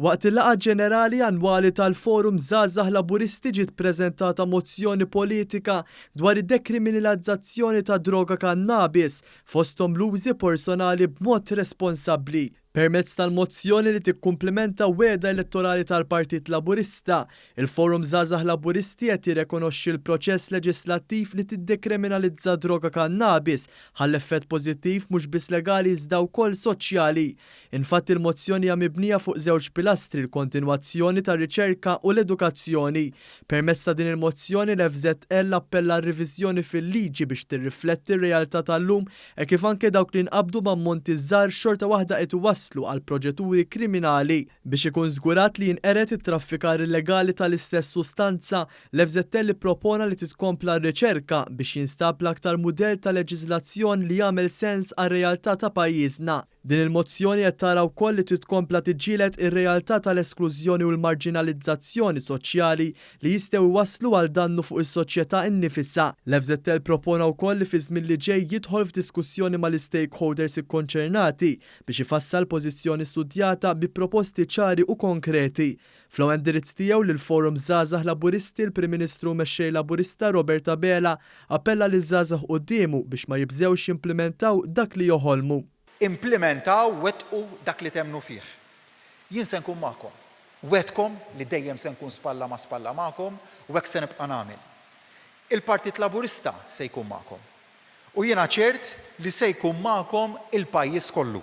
Waqt il-laqgħa ġenerali annwali tal-Forum Żgħażagħ Laburisti ġiet preżentata mozzjoni politika dwar id-dekriminilazzazzjoni tad-droga kannabis, fosthom l-użi porsonali b'mod responsabbli. Permezz tal-mozzjoni li tikkumplimenta wegħda elettorali tal-Partit Laburista, Il-Forum Żgħażagħ Laburisti qed jirrekonoxxi l-proċess leġislattiv li tiddekriminalizza d-droga kannabis ħa l-effett pożittiv mhux biss legali iżda wkoll soċjali. Infatti l-mozzjoni hija mibnija fuq żewġ pilastri l-kontinwazzjoni tar-riċerka u l-edukazzjoni. Permezz ta' din il-mozzjoni l-FŻL appella għal riviżjoni fil-liġi biex tirrifletti r-realtà tal-lum hekk kif anke dawk li nqabdu b'ammonti żgħar xorta waħda qed iwasslu għal proġeturi kriminali. Biex ikun żgurat li jinqered it-traffikar illegali tal-istess sustanza, l-FZL ippropona li titkompla r-riċerka biex jinstab l-aktar mudell ta' leġiżlazzjoni li jagħmel sens għar-realtà ta' pajjiżna. Din il-mozzjoni qed tara wkoll li titkompla tiġġieled ir-realtà tal-esklużjoni u l-marġinalizzazzjoni soċjali li jistgħu jwasslu għal dannu fuq is-soċjetà innifisha. L-FZL propona wkoll li fiż-żmien li ġej jidħol f'diskussjoni mal-istakeholders ikkonċernati biex ifassal pożizzjoni studjata bi proposti ċari u konkreti. Fl-ewwel indirizz tiegħu lill-Forum Żgħażagħ Laburisti l-Prim Ministru u Mexxej Laburista Robert Abela appella liż-żgħażagħ quddiemu biex ma jibżgħux jimplimentaw dak li joħolmu. Implimentaw, wettqu dak li temmnu fih. Jien se nkun magħkom. Wegħdkom li dejjem se nkun spalla ma' spalla magħkom u hekk se nibqa' nagħmel. Il-Partit Laburista se jkun magħkom. U jiena ċert li se jkun magħkom il-pajjiż kollu.